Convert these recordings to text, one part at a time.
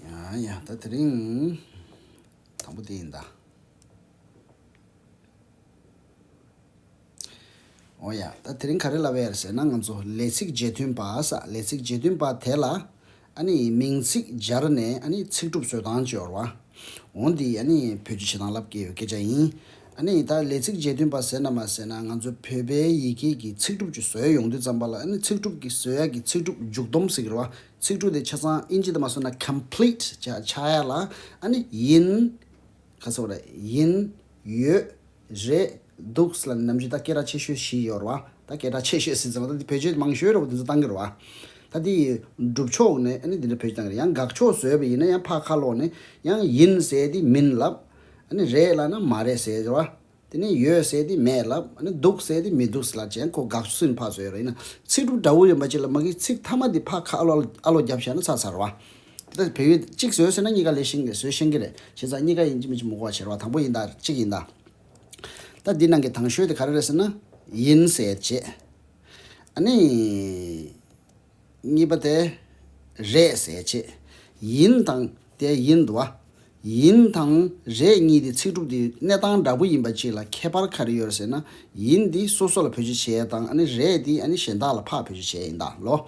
ཡང་ཡང་ད་དེ་རིང་དང་པོ་དེ་ཡིན་ད། ཨོ་ཡ་ད་དེ་རིང་ག་རེ་ལབ་ཨེ་ཡར་ཟེར་ན་ང་ཚོ་ལས་ཚིགས་བརྗེ་མཐུན་པ་ས་ལས་ཚིགས་བརྗེ་མཐུན་པ་དེ་ལ་ཨ་ནི་མིང་ཚིག་སྦྱར་ནས་ཨ་ནི་ཚིག་གྲུབ་སོད་དང་སྤྱོར་བ། འོ་འདི་ཨ་ནི་བོད་ཀྱི་བྱེད་སྟངས་ལབ་ཀྱི་ཡོད་སྐད་ཆ་ཡིན། ཨ་ནི་ད་ལས་ཚིག་རྗེས་མཐུན་པ་ཟེར་ན་མ་ཟེར་ན་ང་ཚོ་བོད་པའི་ཡི་གེ་ཀྱི་ཚིག་གྲུབ་ཀྱི་སོད་ཡོང་དུས་ཙམ་པ་ལ་ཨ་ནི་ཚིག་གྲུབ་ཀྱི་སོད་ཡག་གི་ཚིག་གྲུབ་མཇུག་སྡོམ་ཟིག་ར་བ་ཚིག་གྲུབ་དེ་ཆ་ཚང་ཨིན་ཇི་དུ་མ་སོད་ན complete ཆགས་ཡག་ལ་ཨ་ནི་ཡིན། ཁ་ཚ་བ་ར། ཡིན། ཡོད། རེད་འདུག་སི་ལ་ནི་ནམ་རྒྱུན་ད་སྐད་གྲགས་ཆེ་ཤོས་བཞི་ཡོད་རེད་བ། ད་སྐད་གྲགས་ཆེ་ཤོས་སི་ཙི་མ་ད་འདི་བོད་ཆོས་མང་ཤོས་རེད་བ་དེ་ཚོ་གཏང་གི་རེད་བ། ད་དེ་ཡི་སྒྲུབ་ཕྱོགས་ནི་ཨ་ནི་དེ་འདྲ་བོད་ཀྱི་གཏང་གི་རེད་ཡང་དགག་ཕྱོགས་བཟོས་པ་ཡིན་ན་ཡང་ཕ་ཁ་ལོག་ནི་ཡང་ཡིན་ཟེར་དེ་མིན་ལབ། ཨ་ནི་རེད་ལབ་ན་མ་རེད་ཟེར་བ། དེ་ནས་ཡོད་ཟེར་དེ་མེད་ལབ་ཨ་ནི་འདུག་ཟེར་དེ་མི་འདུག་སི་ལ་ཅན་ཁོ་དགག་ཕྱོགས་སུ་ནི་ཕ་བཟོས་རེད་ཡིན་ན་ཚིག་སྒྲུབ་འདྲ་བོ་ཡོད་པ་ཅིག་ལ་མ་གིས་ཚིག་མཐའ་མ་དེ་ཕ་ཁ་ཨ་ལོག་རྒྱབ་བཞག་ན་ཚར་ཚར་བ། དེ་དག་གི་བལ་ཡུལ་གཅིག་བཟོས་ཟེར་ན་གཉིས་ཀ་ལས་ཤིང་ལས་བཟོས་ཤེས་ཀྱི་རེད་བྱས་ཙང་གཉིས་ཀ་ཡིན་གྱི་མིན་གྱི་མུག་བ་བྱེད་རོགས་དང་པོ་ཡིན་དང་གཅིག་ཡིན་དང། ད་འདི་ནང་གི་དང་ཤོས་དེ་ག་རེ་རེད་ཟེར་ན། ཡིན་ཟེར་རྗེས། ཨ་ནི། གཉིས་པ་དེ། རེད་ཟེར་རྗེས། ཡིན་དང། དེ་ཡིན་འདུག་ཨ། ཡིན་དང། རེད་གཉིས་དེ་ཚིག་གྲུབ་དེ་གནས་སྟངས་འདྲ་པོ་ཡིན་པ་གཅིག་ལ་ཁྱད་པར་ག་རེ་ཡོད་རེད་ཟེར་ན། ཡིན་འདི་སོ་སོ་ལ་བོད་སྤྱི་བྱས་དང་ཨ་ནི་རེད་འདི་ཨ་ནི་གཞན་དག་ལ་ཕག་བོད་སྤྱི་བྱས་ཡིན་དང་ལོ།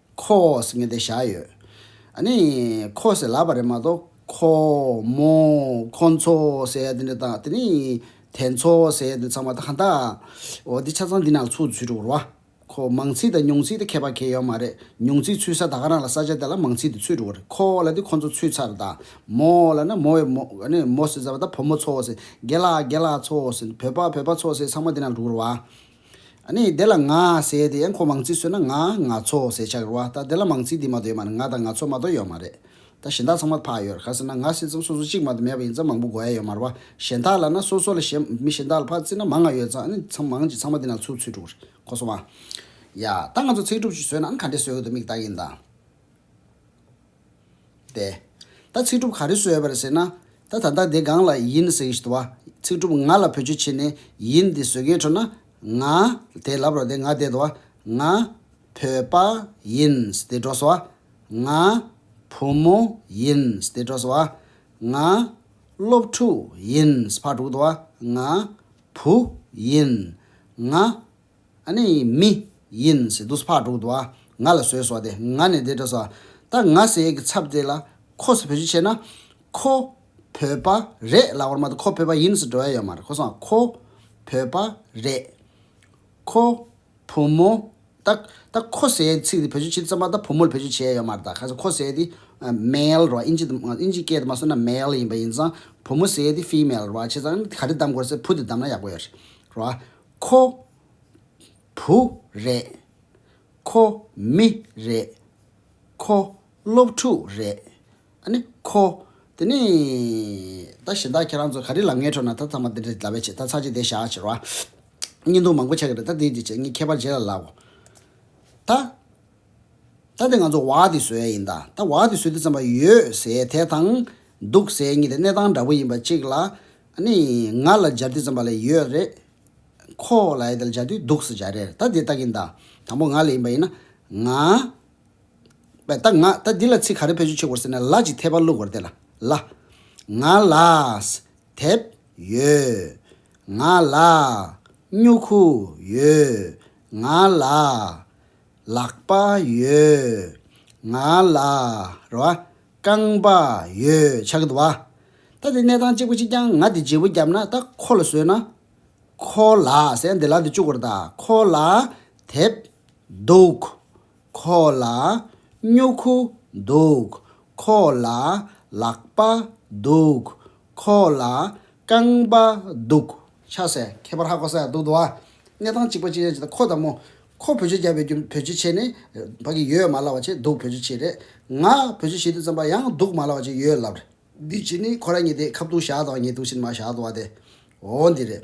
ཁོ་ཟེར་མཁན་དེ་བཞག་ཡོད། ཨ་ནི། ཁོ་ཟེར་ལབ་པ་རེད་མ་གཏོགས། ཁོ། མོ། ཁོ་ཚོ། ཟེར་ཡ་དེ་འདྲ་དང་དེ་ནི། དེ་ཚོ། ཟེར་ཡ་དེ་ཚང་མ་ད་གང་དག། འོ་དེ་ཆ་ཚང་འདི་ནང་ཚུད་ཚུད་འགྲོ་བར། ཁོ། མང་ཚིག་དང་ཉུང་ཚིག་དེ་ཁྱད་པར་གྱེས་ཡོད་མ་རེད། ཉུང་ཚིག་ཚུད་ས་ད་ག་རང་ལ་ས་ཆ་དེ་ལ་མང་ཚིག་དེ་ཚུད་འགྲོ་བར། ཁོ་ལ་དེ་ཁོ་ཚོ་ཚུད་ཚར་དང། མོ་ལ་ནི་མོ་བའི་མོ། ཨ་ནི། མོ་ཟེར་ས་པ་ད་བུ་མོ་ཚོ་ཟེར། རྒན་ལགས་རྒན་ལགས་ཚོ་ཟེར། བོད་པ་བོད་པ་ཚོ་ཟེར་ཚང་མ་འདི་ནང་འགྲོ་བར། ནི་དེ་ལ་ང་ཟེར་དེ་ཡང་ཁོ་མང་ཚིག་བཟོས་ན་ང་ང་ཚོ་ཟེར་ཆགས་རུང་བ་ད་དེ་ལ་མང་ཚིག་འདི་མ་དོ་ཡོད་མ་རེད་ང་དང་ང་ཚོ་མ་དོ་ཡོད་མ་རེད་ད་གཞན་དག་ཚང་མ་འཕགས་ཡོད་ག་ཟེར་ན་ང་ཟེར་ཙམ་སོ་སོ་གཅིག་མ་དོ་མེད་པ་ཡིན་ཙམ་མང་པོ་གོ་ཡ་ཡོད་མ་རུང་བ་གཞན་དག་ལ་ན་སོ་སོ་ལ་གཞན་མི་གཞན་དག་ལ་འཕགས་ཚིག་ན་མང་ང་ཡོད་ཙང་ནི་ཚང་མང་གཅིག་ཚང་མ་འདི་ན་ཚུར་ཚུར་དྲུག་རེད་གོ་སོང་བ། ཡ། ད་ང་ཚོ་ཚིག་སྒྲུབ་ཅིག་བཟོས་ན་ག་འདྲས་བཟོས་དགོས་འདུག་མིག་དག་གིས་འདང། བསྡད། ད་ཚིག་གྲུབ་ག་རེ་གསོལ་བར་ཟེར་ན། ད་ད་ལྟ་འདི་སྒང་ལ་ཡིན་ཟེར་གྱི་འདུག་བ། ཚིག་གྲུབ་ང་ལ་བོད་ཆུ་ཕྱེ་ནས་ཡིན་འདི་ཟོས་ཀའི་ཁྲོད་ན། ང། དེ་ལབ་རོགས་དེ་ང་བསྡད་འདུག་བ། ང། བོད་པ། ཡིན། དེ་འགྲོ་སོང་བ། ང། བུ་མོ། ཡིན། དེ་འགྲོ་སོང་བ། ང། སློབ་ཕྲུག། ཡིན། ཕར་དཀྲུགས་འདུག་བ། ང། བུ། ཡིན། ང། ཨ་ནི་མི། ཡིན། སི་ཏུས་ཕག་དྲུག་དུ་ཨ། ང་ལ་ཟོས་སོ་དེ། ང་ནི་དེ་སྤྲོ་སོ་ཨ། ད་ང་སི་ཨེ་གི་ཚབ་དེ་ལ། ཁོ་སི་བོད་ཆུ་ཆེ་ན། ཁོ། བོད་པ། རེད་ལ་བར་མ་དུ་ཁོ་བོད་པ་ཡིན་སི་འགྲོ་ཡ་ཡོད་མ་རེད་ཁོ་སོང་ཨ་ཁོ། བོད་པ། རེད། ཁོ། བུ་མོ། ད། ད་ཁོ་སི་ཨེ་ཚིག་དེ་བོད་ཆུ་ཆེ་དུ་ཙམ་པ་ད་བུ་མོ་ལ་བོད་ཆུ་ཆེ་ཡ་ཡོད་མ་རེད་ད་ག་ས་ཁོ་སི་ཨེ་དེ། Male། རོ་ཨ་ཨིན་ཇི་དུ་ཨིན་ཇི་སྐད་དུ་མ་གསུངས་ན Male ཡིན་པ་ཡིན་ཙང་བུ་མོ་སི་ཨེ་དེ Female རོ་ཨ་བྱས་ཙང་ག་རེ་གདམ་དགོས་རེད་ས་བུ་དེ་གདམ་ན་ཡག་པོ་ཡོད་རེད་རོ་ཨ། ཁོ། བུ། རེད། ཁོ། མི། རེད། ཁོ། སློབ་ཕྲུག། རེད། ཨ་ནི། ཁོ། དེ་ནི། ད་གཞན་དག་ཁྱེད་རང་ཚོ་ག་རེ་ལ་ངའི་ཁྲོད་ན་ད་ཚང་མ་འདི་འདྲ་འདྲ་བས་བྱས་ད་ཚར་གཅིག་དེ་བཞག་ཅེས་རོ། བརྙན་ཐུང་མང་པོ་ཆགས་ཀྱི་རེད་ད་དེའི་རྗེས་བྱས་ངས་ཁྱད་པར་བྱས་ལ་ལགས། ད། ད་དེ་ང་ཚོ་བག་དེ་ཟོས་ཡིན་ད་ད་བག་དེ་ཟོས་དུས་ཙམ་པ་ཡོད་ཟས་དེ་དང། འདུག་ཟས་གཉིས་དེ་གནས་སྟངས་འདྲ་པོ་ཡིན་པ་གཅིག་ལ། ནི། ང་ལ་སྦྱར་དུས་ཙམ་པ་ལས་ཡོད་རེད། ཁོ། ལ་ཡི་དེ་ལ་སྦྱར་དུས་འདུག་ཟེར་སྦྱར་རེད་ད་དེ་ལྟ་གིན་ད། དང་པོ་ང་ལ་ཡིན་པ་ཡིན་ན། ང། པས་ད་ང་ད་འདི་ལ་ཚིག་ག་རེ་ཕེབས་ཆུ་ཆོད་དགོས་ཟེར་ན་ལ་ཅིག་འཐད་པ་བླུག་དགོས་རེད་དེ་ལ་ལ། ང་ལ། དེབ། ཡོད། ང་ལ། སྨྱུ་གུ། ཡོད། ང་ལ། ལག་པ་ཡོད། ང་ལ་རེ་བ། རྐང་པ་ཡོད་ཆགས་འདུག་བ། ད་དེ་གནས་སྟངས་གཅིག་པོ་གཅིག་རྐྱང་ང་དེ་བརྗེ་བོ་བརྒྱབ་ན་ད་ཁོ་ལ་བཟོས་ན། ཁོ་ལ་ཟེར་ཡང་དེ་ལག་དེ་བཅུག་གོར་ད་ཁོ་ལ་དེབ་འདུག། ཁོ་ལ་སྨྱུ་གུ་འདུག། ཁོ་ལ་ལག་པ་འདུག། ཁོ་ལ་རྐང་པ་འདུག་ཆགས་སའི་ཁྱད་པར་ཧ་གོ་ས་ཡག་འདུག་འདུག་བ། གནས་སྟངས་གཅིག་པོ་གཅིག་རྐྱང་བྱས་ད་ཁོ་ད་མོ། ཁོ་བོད་ཆས་རྒྱག་པའི་རྒྱུ་བོད་ཆས་ཆེ་ནི་བག་གི་ཡོད་མ་ལབ་བ་ཆེ་འདུག་བོད་ཆས་ཆེ་རེད་ང་བོད་ཆས་ཞིག་ཏུ་བརྩམས་པ་ཡང་འདུག་མ་ལབ་བ་ཆེ་ཡོད་ལབ་རེད། འདི་ཅི་ནི་ཁོ་ར་ཉེ་དེ་ཁ་བཏུང་བཞག་དང་ཉེ་བཏུང་ཕྱིར་མ་བཞག་བཏུང་བ་དེ་འོ་འདི་རེད།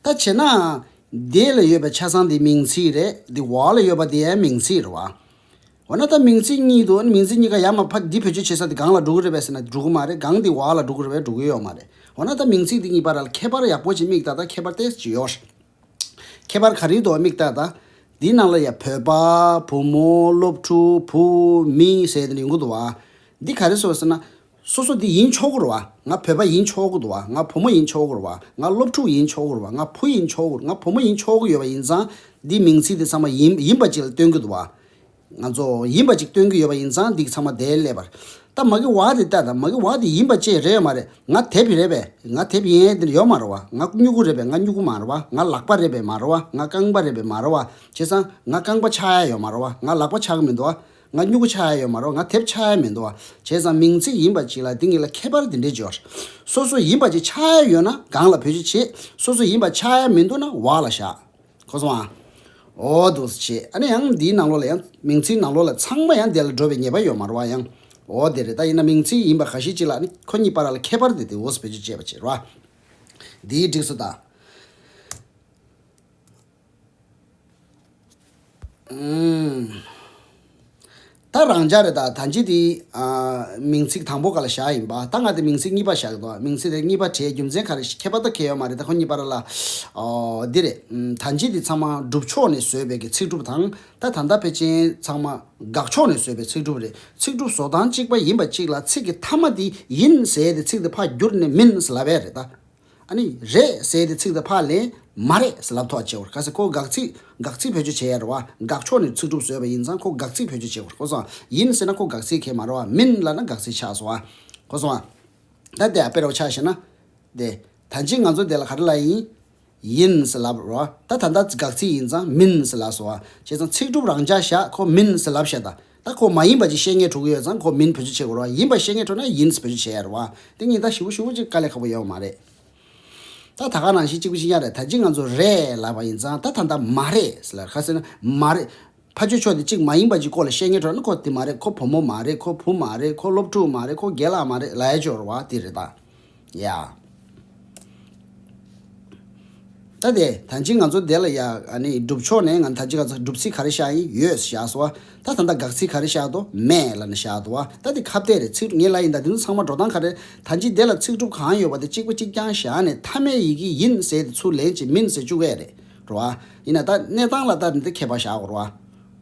ད་བྱས་ནའང་འདི་ལ་ཡོད་པའི་ཆ་ཚང་འདི་མིང་ཚིག་རེད་འདི་བ་ལ་ཡོད་པ་འདི་ཡང་མིང་ཚིག་རེད་བ། འོ་ན་ད་མིང་ཚིག་གཉིས་འདུག་མིང་ཚིག་གཉིས་ཀ་ཡར་མ་ཕབ་འདི་བོད་ཆས་ཆེ་ས་འདི་སྒང་ལ་འགྲོ་གི་རེད་བས་ཟེར་ན་འགྲོ་གི་མ་རེད་སྒང་འདི་བ་ལ་འགྲོ་གི་རེད་བས་འགྲོ་གི་ཡོད་མ་རེད་འོ་ན་ད་མིང་ཚིག་འདི་གཉིས་པ་ར་ལ་ཁྱད་པར་ཡག་པོ་ཅིག་དམིགས་ད་ད་ཁྱད་པར་ཏེ་ཅི་ཡོད། ཁྱད་པར་གངས་རིའི་འདུ་བ་མིག་ལྟ་དང། འདིའི་ནང་ལ་ཡང་བོད་པ། བུ་མོ། སློབ་ཕྲུག། བུ། མི། ཟེར་ནས་ཡོང་གི་འདུག་བ། འདི་ག་རེ་ཟེར་བ་ཟེར་ན། སོ་སོ་འདི་ཡིན་ཆོག་གུར་བ། ང་བོད་པ་ཡིན་ཆོག་གི་འདུག་བ། ང་བུ་མོ་ཡིན་ཆོག་གུར་བ། ང་སློབ་ཕྲུག་ཡིན་ཆོག་གུར་བ། ང་བུ་ཡིན་ཆོག་གུར། ང་བུ་མོ་ཡིན་ཆོག་གི་ཡོད་པ་ཡིན་ཙང། འདིའི་མིང་ཚིག་དེ་ཚང་མ་ཡིན། ཡིན་པ་ཅིག་ལ་སྟོན་གི་འདུག་བ། ང་ཚོ་ཡིན་པ་ཅིག་སྟོན་གྱི་ཡོད་པ་ཡིན་ཙང་འདི་ཚང་མ་དེའི་ཀླད་པར། ད་མ་གི་བ་དེ་ལྟ་དང་མ་གི་བ་དེ་ཡིན་པ་བཅས་རེད་ཡོད་མ་རེད་ང་དེབ་རེད་པས་ང་དེབ་ཡིན་ཨེ་དེ་ཡོད་མ་རེད་བ་ང་སྨྱུ་གུ་རེད་པས་ང་སྨྱུ་གུ་མ་རེད་བ་ང་ལག་པ་རེད་པས་མ་རེད་བ་ང་རྐང་པ་རེད་པས་མ་རེད་བ་བྱས་ཙང་ང་རྐང་པ་ཆགས་ཡ་ཡོད་མ་རེད་བ་ང་ལག་པ་ཆགས་གི་མི་འདུག་བ་ང་སྨྱུ་གུ་ཆགས་ཡ་ཡོད་མ་རེད་བ་ང་དེབ་ཆགས་ཡ་མི་འདུག་བ་བྱས་ཙང་མིང་ཚིག་ཡིན་པ་ཅིག་ལ་དེ་གཉིས་ལ་ཁྱད་པར་དེ་འདྲས་འཇོག། སོ་སོ་ཡིན་པ་ཅིག་ཆགས་ཡ་ཡོད་ན་སྒང་ལ་བུད་རྗེས་བྱེད་སོ་སོ་ཡིན་པ་ཆགས་ཡ་མི་འདུག་ན་བག་ལ་བཞག། ཁོ་སོང་ཨ། འོ་འདུག་བྱས་ཨ་ནི་ཡང་འདིའི་ནང་ལོགས་ལ་ཡང་མིང་ཚིག་ནང་ལོགས་ལ་ཚང་མ་ཡང་དེ་ལ་འགྲོ་བའི་ངེས་པ་ཡོད་མ་རོ་ཨ་ཡང་འོ་དེ་རེད་ད་ཡིན་ན་མིང་ཚིག་ཡིན་པ་ག་ཤེད་ཅིག་ལ་ཨ་ནི་ཁོ་གཉིས་པ་ར་ལ་ཁད་པར་དེ་དེ་འོས་བོད་ཆུ་བཅད་པ་བྱས་རོ་ཨ། འདིའི་སྒྲིགས་སུ་ད། ད་རང་སྦྱར་རེད་ད་ལྗིད་དེ་མིང་ཚིག་དང་པོ་ག་ལ་བཞག་ཡིན་པ་ད་ང་དེ་མིང་ཚིག་གཉིས་པ་བཞག་གི་འདུག་མིང་ཚིག་དེ་གཉིས་པ་དེའི་རྒྱུ་མཚན་ག་རེ་ཁྱད་པར་ད་ཁྱད་ཡོད་མ་རེད་ད་ཁོ་གཉིས་པར་ལ་འདི་རེད་ད་ལྗིད་དེ་ཚང་མ་སྒྲུབ་ཕྱོགས་ནས་བཟོས་པའི་གི་ཚིག་སྒྲུབ་དང་ད་ད་ལྟ་ཕལ་ཆེན་ཚང་མ་དགག་ཕྱོགས་ནས་བཟོས་པའི་ཚིག་སྒྲུབ་རེད་ཚིག་སྒྲུབ་བཟོ་སྟངས་གཅིག་པ་ཡིན་པ་གཅིག་ལ་ཚིག་གི་མཐའ་མ་དེ་ཡིན་ཟེར་དེ་ཚིག་དེ་ཕ་བསྒྱུར་ནས་མིན་ཟེར་ལབ་པས་རེད་ད། ཨ་ནི་རེད་ཟེར་ཏེ་ཚིག་དེ་ཕར་ལེན། མ་རེད་ཟེར་ལབ་ཐོག་བྱེད་བར་ག་ཚེ་ཁོ་དགག་ཚིག་དགག་ཚིག་བེད་སྤྱོད་བྱེད་ཡ་རོ་བ་དགག་ཕྱོགས་ནས་ཚིག་གྲུབ་བཟོས་པ་ཡིན་ཙང་ཁོ་དགག་ཚིག་བེད་སྤྱོད་བྱེད་དགོས་ཁོ་སོང་ང་ཡིན་ཟེར་ན་ཁོ་དགག་ཚིག་མཁན་མ་རོ་བ་མིན་ལབ་ན་དགག་ཚིག་ཆགས་སོང་ང་ཁོ་སོང་ང། ད་དེ་ཨ་དཔེ་རོགས་ཆགས་ཤེས་ན། དེ། ད་ཅིག་ང་ཚོ་དེ་ལ་ག་རེ་ལབ་ཡིན། ཡིན་ཟེར་ལབ་རོ་བ་ད་ད་ལྟ་དགག་ཚིག་ཡིན་ཙང་མིན་ཟེར་ལབ་སོང་ང་བྱས་ཙང་ཚིག་གྲུབ་རང་འཇགས་བཞག་ཁོ་མིན་ཟེར་ལབ་བཞག་ད་ད་ཁོ་མ་ཡིན་པ་ཅིག་བཤད་ངེས་དྲུག་ཡོད་ཙང་ཁོ་མིན་བེད་སྤྱོད་བྱེད་དགོས་རོགས་ཡིན་པ་བཤད་ངེས་དྲུག་ན་ཡིན་བེད་སྤྱོད་བྱེད་ཡ་རོགས་ཨ་དེ་གཉིས་ད་ཞི་བོ་ཞུ་བོ་ཅིག་དཀའ་ལས་ཁག་པོ་ཡོད་མ་རེད་ད་ད་ག་ནང་བཞིན་གཅིག་པུ་གཅིག་ཡང་རེད་ད་གཅིག་ང་ཚོ་རེད་ལབ་པ་ཡིན་ཙང་ད་ད་ད་མ་རེད་ཟེར་ལར་ཁ་ཟེར་ན་མ་རེད་ཕ་ཆོས་ཕྱོགས་དེ་གཅིག་མ་ཡིན་པ་ཅིག་སྐོར་ལ་བཤད་ངེས་དྲུག་ན་ཁོ་དེ་མ་རེད་ཁོ་བུ་མོ་མ་རེད་ཁོ་བུ་མ་རེད་ཁོ་སློབ་ཕྲུག་མ་རེད་ཁོ་རྒན་ལགས་མ་རེད་ལ་ཡ་ཆོས་རོགས་ཨ་དེ་རེད་ད། ཡ། ད་ད་ཅི་ང་ཚོ་དེ་ལ་ཡ། སྒྲུབ་ཕྱོགས་ནས་ང་ད་ཅི་ག་ཚོད་སྒྲུབ་ཚིག་ག་རེ་བཞག་ཡིན་ཡོད་བཞག་སོ། ད་ད་ད་དགག་ཚིག་ག་རེ་བཞག་དོ་མེད་ལ་ན་བཞག་དོ། ད་དེ་ཁ་བརྡས་རེད་ཚིག་ངེས་ལ་ཡིན་ད་དེ་ཚོ་ཚང་མ་འགྲོ་སྟངས་ག་རེ། ད་ཅི་དེ་ལ་ཚིག་སྒྲུབ་གང་ཡོད་པ་དེ་གཅིག་པ་གཅིག་རྐྱང་བཞག་ནས་མཐའ་མའི་ཡི་གེ་ཡིན་ཟེར་དེ་ཚུར་ལེན་བྱེད་མིན་ཟེར་བཅུག་གས་རེད་རོ། ཡིན་ན་ད་གནས་སྟངས་ལ་ལྟ་ནས་དེ་མཁས་པ་བཞག་གོ་རོ།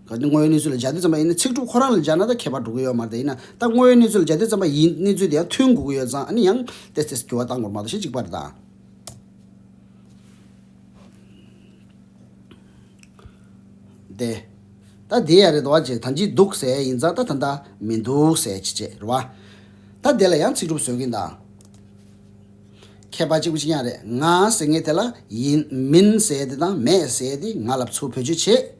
གལ་ཏེ་དངོས་ཡོད་གནས་ཚུལ་ལ་སྦྱར་དུས་བརྩམས་པ་ཡིན་ན་ཚིག་གྲུབ་ཁོ་རང་ལ་སྦྱར་ན་ད་ཁྱད་པར་འགྲོ་གི་ཡོད་མ་རེད་དེ་ཡིན་ན་ད་དངོས་ཡོད་གནས་ཚུལ་ལ་སྦྱར་དུས་བརྩམས་པ་ཡིན་གནས་ཚུལ་དེའང་མཐུན་དགོས་ཀྱི་ཡོད་ཙང་ཨ་ནི་ཡང་དེ་དེས་འགྱུར་བ་གཏང་དགོས་མ་གཏོགས་ཞེ་གཅིག་པ་རེད་ད། དེ། ད་དེ་ཡང་རེད་དོ་ཅེས་ད་འཇིགས་འདུག་ཟེར་ཡིན་ཙང་ད་ད་ད་མི་འདུག་ཟེར་ཅི་བྱེད་རེད་བ། ད་དེ་ལ་ཡང་ཚིག་གྲུབ་བཟོ་གིན་ད། ཁྱད་པར་གཅིག་པུ་གཅིག་ཡང་རེད་ང་ཟེར་ངེས་དེ་ལ་ཡིན་མིན་ཟེར་དེ་དང་མེད་ཟེར་དེ་ང་ལབ་ཚུལ་བོད་ཆོས་བྱེད།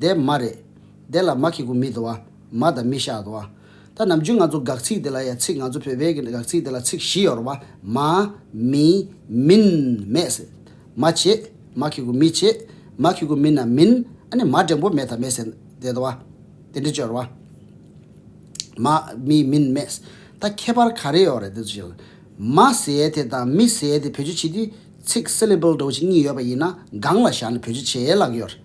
དེ་མ་རེད། དེ་ལ་མ་ཁེ་གུ་མི་དོ། མ་དང་མི་ཤ་དོ། ད་ནམ་རྒྱུན་ང་ཚོ་དགག་ཚིག་དེ་ལ་ཡང་ཚིག་ང་ཚོ་བོད་པའི་གི་དགག་ཚིག་དེ་ལ་ཚིག་བཞི་ཡོད་རོ་བ། མ། མི། མིན། མེད་ཟེར། མ་བྱེད། མ་ཁེ་གུ་མི་བྱེད། མ་ཁེ་གུ་མིན་ན་མིན། ཨ་ནི་མ་འབྲིང་པོ་མེད་དང་མེད་ཟེར། དེ་དོ་བ། དེ་འདྲི་གཅོད་རོ་བ། མ། མི། མིན། མེད། ད་ཁྱད་པར་ག་རེ་ཡོད་རེད་དེ་ཚོ། མ་ཟེར་དེ་དང་མི་ཟེར་དེ་བོད་ཆུ་བྱེད་དུས་ཚིག syllable འདྲ་བོ་ཆེ་གཉིས་ཡོད་པ་ཡིན་ན་སྒང་ལ་བཞག་ནས་བོད་ཆུ་བྱེད་ལགས་ཀྱི་ཡོད་རེད།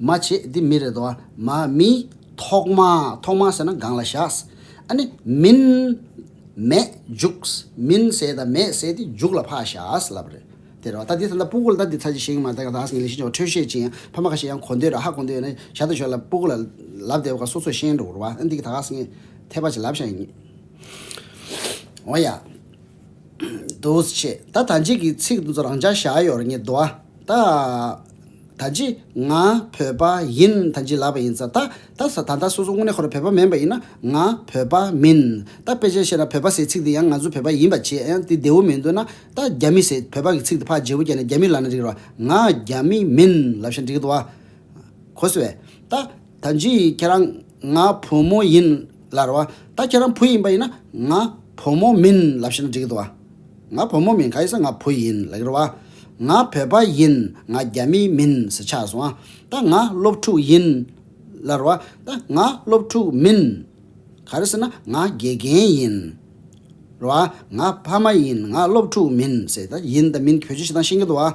མ་བྱེད་འདི་མི་རེད་བ། མ་མི། ཐོག་མ། ཐོག་མ་ཟེར་ན་སྒང་ལ་བཞག། ཨ་ནི། མིན། མེད། འཇུགས། མིན་ཟེར་དང་མེད་ཟེར་དེ་འཇུགས་ལ་ཕག་བཞག་ལབ་པ་རེད། དེ་རེད་བ། ད་འདི་ད་སྤུ་གུ་ལ་ད་འདི་ཚར་གྱི་ཤེས་ཀྱི་མ་རེད་ད་ག་ད་ཨ་ཟིག་ངས་ལས་ཤེས་ཀྱི་བ་འཕྲོད་ཤེས་ཅི་ཡང་ཕ་མ་ག་ཤེད་ཡང་གོ་འདོད་ར་ཧ་གོ་འདོད་ཡོད་ན་བཞག་ད་ཞོག་ལབ་སྤུ་གུ་ལ་ལབ་བསྡད་པ་ག་སོ་སོས་ཤེས་འགྲོ་གོ་རེད་བ། ཨ་འདི་གི་ད་ག་ཟིག་ངས་ཐད་པ་ཅིག་ལབ་བཞག་ཡིན། འོ་ཡ། འདུ་བྱེད་ད་ད་ཅིག་གི་ཚིག་དུ་རང་ཅག་བཞག་ཡོར་ཉིད་དུ་ཨ། ད། ད་ཅི་ང་བོད་པ་ཡིན་ད་ཅི་ལབ་པ་ཡིན་ས་ད་ད་ས་ད་ད་སོ་སོ་དངོས་གནས་ཁོ་རང་བོད་པ་མིན་པ་ཡིན་ན་ང་བོད་པ་མིན་ད་དཔེ་ཆའི་བཤད་ན་བོད་པ་ཟེར་ཚིག་དེ་ཡང་ང་ཚོ་བོད་པ་ཡིན་པ་བྱེད་ཨ་དེ་བདེ་བོ་མི་འདུག་ན་ད་རྒྱ་མི་ཟེར་བོད་པ་གི་ཚིག་དེ་ཕ་རྗེ་བོ་རྒྱ་ནས་རྒྱ་མི་ལབ་ན་འགྲིག་རོ་ང་རྒྱ་མི་མིན་ལབ་ཤ་འགྲིག་དུ་ཨ། གོ་སི་བས་ད། ད་འཇིགས་ཡིན་ཁྱེད་རང་ང་བུ་མོ་ཡིན་ལར་བ་ད་ཁྱེད་རང་བུ་ཡིན་པ་ཡིན་ན་ང་བུ་མོ་མིན་ལབ་ཤེས་ན་འགྲིག་གི་འདུག་བ་ང་བུ་མོ་མིན་ག་ཡིན་ཟེར་ང་བུ་ཡིན་ལགས་རེད་བ་ང་བོད་པ་ཡིན་ང་རྒྱ་མི་མིན་ཟེར་ཆགས་སོང་བ་ད་ང་སློབ་ཕྲུག་ཡིན་ལར་བ་ད་ང་སློབ་ཕྲུག་མིན་ག་རེད་ཟེར་ན་ང་དགེ་རྒན་ཡིན་རེད་བ་ང་ཕ་མ་ཡིན་ང་སློབ་ཕྲུག་མིན་ཟེར་ད་ཡིན་ད་མིན་གྱི་བོད་ཆོས་ཤིག་དང་ཤེས་ཀྱི་འདུག་བ་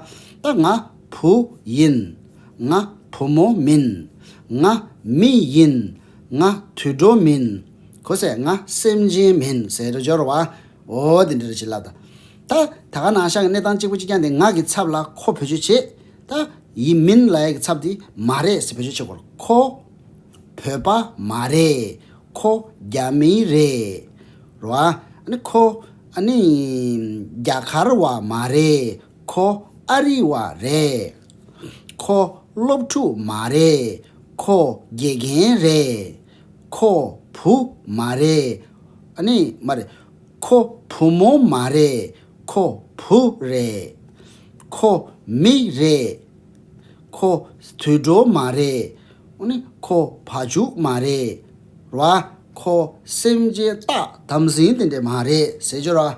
ད་ང། བུ་ཡིན། ང་བུ་མོ་མིན། ང་མི་ཡིན། ང་དུད་འགྲོ་མིན། གོ་ས་ང་སེམས་ཅན་མིན་ཟེར་རོ་སྦྱོར་བ། འོ་དེ་འདྲ་རེ་བྱེད་ལབ། ད་ད་ག་ནང་བཞག་གི་གནས་སྟངས་གཅིག་པུ་གཅིག་རྐྱང་དེ་ང་གི་ཚབ་ལ་ཁོ་བེད་སྤྱོད་བྱེད། ད་ཡིན་མིན་ལ་ཡ་གི་ཚབ་དེ་མ་རེད་ཟེར་བེད་སྤྱོད་བྱེད་དགོས་རོ་ཁོ། བོད་པ་མ་རེད། ཁོ་རྒྱ་མི་རེད། རོ་ཨ་ནི་ཁོ་ཨ་ནི། རྒྱ་གར་བ་མ་རེད། ཁོ་ཨ་རི་བ་རེད། ཁོ་སློབ་ཕྲུག་མ་རེད། ཁོ་དགེ་རྒན་རེད། ཁོ་བུ་མ་རེད། ཨ་ནི་མ་རེད། ཁོ་བུ་མོ་མ་རེད། ཁོ་བུ་རེད། ཁོ་མི་རེད། ཁོ་དུད་འགྲོ་མ་རེད། ཨོ་ནི་ཁོ་བ་བྱུག་མ་རེད། རེད་བ། ཁོ་སེམས་ཅན་རྟགས་དམ་ཟིན་དེ་འདྲས་མ་རེད་ཟེར་རྒྱུ་རེད།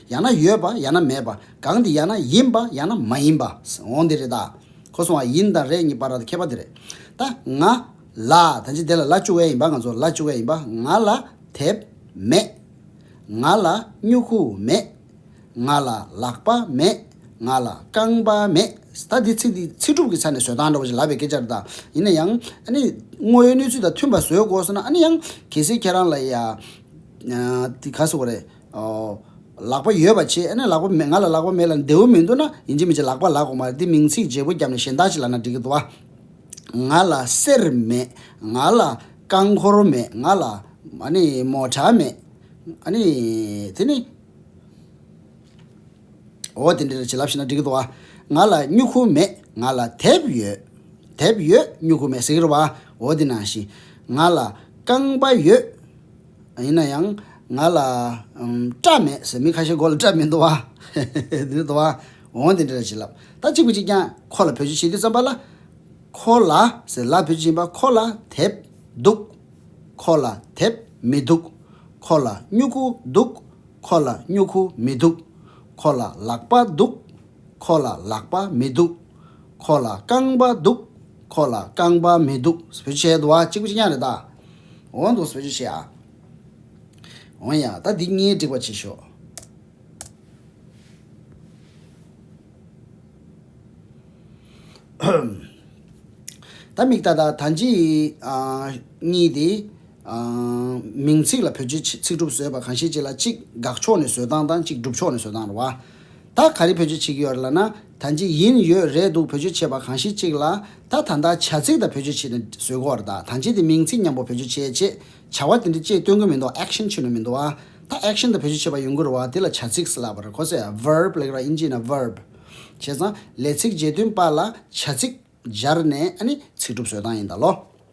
ཡང་ན་ཡོད་པ་ཡང་ན་མེད་པ་གང་དེ་ཡང་ན་ཡིན་པ་ཡང་ན་མ་ཡིན་པ་འོང་དེ་རེད་ད། ཁོ་སོང་བ་ཡིན་དང་རེད་གཉིས་པ་ར་ད་ཁྱད་པར་དེ་རེད་ད། ང། ལ། ད་ཅི་དེ་ལ་ལ་བཅུག་ཨེ་ཡིན་པ་ང་ཚོ་ལ་བཅུག་ཨེ་ཡིན་པ་ང་ལ་དེབ་མེད། ང་ལ་སྨྱུ་གུ་མེད། ང་ལ་ལག་པ་མེད། ང་ལ་རྐང་པ་མེད། ད་འདི་ཚིག་འདི་ཚིག་གྲུབ་ཀྱི་ཆ་ནས་བཟོས་སྟངས་འདྲ་བོ་ཞིག་ལབ་པའི་སྐད་ཆ་རེད་ད། ཡིན་ན་ཡང། ཨ་ནི། དངོས་ཡོད་གནས་ཚུལ་དང་མཐུན་པ་བཟོས་དགོས་ཟེར་ན་ཨ་ནི་ཡང། གལ་སྲིད་ཁྱེད་རང་ལ་ཡ། ག་ཟེར་བ་རེད། ལག་པ་ཡོད་པ་ཆེ་ཨེ་ན་ལག་པ་མེད་ང་ལ་ལག་པ་མེད་ལ་མདེའུ་མི་འདུག་ན་ཡིན་གཅིག་མི་བྱེད་ལག་པ་ལག་གོང་མ་རེད་འདི་མིང་ཚིག་བརྗེ་པོ་བརྒྱབ་ནས་གཞན་དག་ཅིག་ལ་ན་འགྲིག་གི་འདུག་ཨ། ང་ལ་གསེར་མེད་ང་ལ་རྐང་འཁོར་མེད་ང་ལ་ཨ་ནི་མོ་ཁྲ་མེད་ཨ་ནི་དེ་ནི། འོ་དེ་འདྲ་ཅིག་ལབ་ཤེས་ན་འགྲིག་གི་འདུག་ཨ། ང་ལ་སྨྱུ་གུ་མེད་ང་ལ་དེབ་ཡོད་དེབ་ཡོད་སྨྱུ་གུ་མེད་ཟེར་གི་འདུག་ཨ་འོ་དེ་ནང་བཞིན། ང་ལ་རྐང་པ་ཡོད། ཡིན་ན་ཡང་ང་ལ་སྐྲ་མེད་ཟེར་མི་ཁ་ཤས་མགོ་ལ་སྐྲ་མི་འདུག་བ། དེ་འདྲ་འདུག་བ། འོང་དེ་འདྲ་རེད་བྱིན་རླབས་ད་གཅིག་པུ་གཅིག་ཀྱང་ཁོ་ལ་བོད་ཆུ་བྱིན་གྱིས་བརྩམས་པ་ལ། ཁོ་ལ་ཟེར་ལ་བོད་ཆུ་བྱིན་པ་ཁོ་ལ་དེབ་འདུག། ཁོ་ལ་དེབ་མི་འདུག། ཁོ་ལ་སྨྱུ་གུ་འདུག། ཁོ་ལ་སྨྱུ་གུ་མི་འདུག། ཁོ་ལ་ལག་པ་འདུག། ཁོ་ལ་ལག་པ་མི་འདུག། ཁོ་ལ་རྐང་པ་འདུག། ཁོ་ལ་རྐང་པ་མི་འདུག་ཟེར་བོད་ཆུ་བྱས་འདུག་བ་གཅིག་པུ་གཅིག་ཀྱང་རེད་ད། འོང་དུ་བཟོ་རྒྱུ་བྱེད་ཨ། འོང་ཡ། ད་འདི་གཉིས་སྒྲིག་པ་བྱེད་ཤོག། ད་མིག་ལྟ་ལྟ་ད་འཇིག། གཉིས་དེ། མིང་ཚིག་ལ་བོད་སྤྱི་ཚིག་གྲུབ་བཟོས་པ་གང་ཤེས་ཅིག་ལ་གཅིག་དགག་ཕྱོགས་ནས་བཟོས་སྟངས་དང་གཅིག་སྒྲུབ་ཕྱོགས་ནས་བཟོས་སྟངས་རེད་བ། ད་ག་རེ་བོད་སྤྱི་ཚིག་ཡོད་རེད་ལ་ན། ད་འཇིག་ཡིན་ཡོད་རེད་འདུག་བེད་སྤྱོད་བྱས་པ་གང་ཞིག་ཅིག་ལ་ད་ད་ལྟ་བྱ་ཚིག་དག་བེད་སྤྱོད་བྱས་ནས་བཟོས་གོ་བར་གདའ་ད་འཇིག་དེ་མིང་ཚིག་མཉམ་པོ་བེད་སྤྱོད་བྱས་རྗེས་བྱ་བ་དེ་འདྲི་ཅེས་སྟོན་གི་མི་འདུག action ཆུ་ནུ་མི་འདུག་ད action དག་བེད་སྤྱོད་བྱས་པ་ཡོང་གི་རུ་བ་དེ་ལ་བྱ་ཚིག་ཟེར་ལགས་པར་གོ་ཚེ verb ལེགས་ར་ཨིན་ཇི་ཡིན་ན verb བྱས་ཙང་ལས་ཚིག་བརྗེ་དོན་པ་ལ་བྱ་ཚིག་སྦྱར་ནས་ཨ་ནི་ཚིག་གྲུབ་བཟོས་སྟངས་ཡིན་ད་ལོ།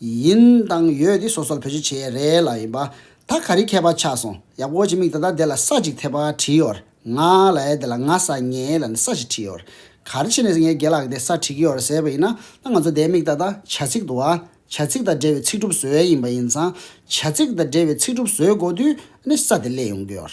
ཡིན། དང་ཡོད་འདི་སོ་སོར་བོད་ཆུ་བྱེ་རས་ལ་ཡིན་པ། ད་ག་རི་མཁས་པ་ཆགས་སོང་ཡག་པོ་གཅིག་མིག་ད་ལྟ་དེ་ལ་ས་གཅིག་ཐེབས་པ་བྲིས་ཡོར་ང་ལ་ཡ་དེ་ལ་ང་ས་ངས་ལ་ནས་ས་ཞིག་བྲིས་ཡོར་གར་ཕྱིན་ནས་ངས་དགེ་ལགས་དེ་ས་བྲིས་ཀྱི་ཡོར་ཟེར་བ་ཡིན་ན་ང་ཚོ་དེའི་མིག་ད་ལྟ་བྱ་ཚིག་ཏུ་བ་བྱ་ཚིག་དང་འབྲེལ་བའི་ཚིག་གྲུབ་བཟོས་ཡིན་པ་ཡིན་ཙང་བྱ་ཚིག་དང་འབྲེལ་བའི་ཚིག་གྲུབ་བཟོས་འགོ་དུས་ནས་ས་དེ་བསླད་ཡོང་གི་ཡོར།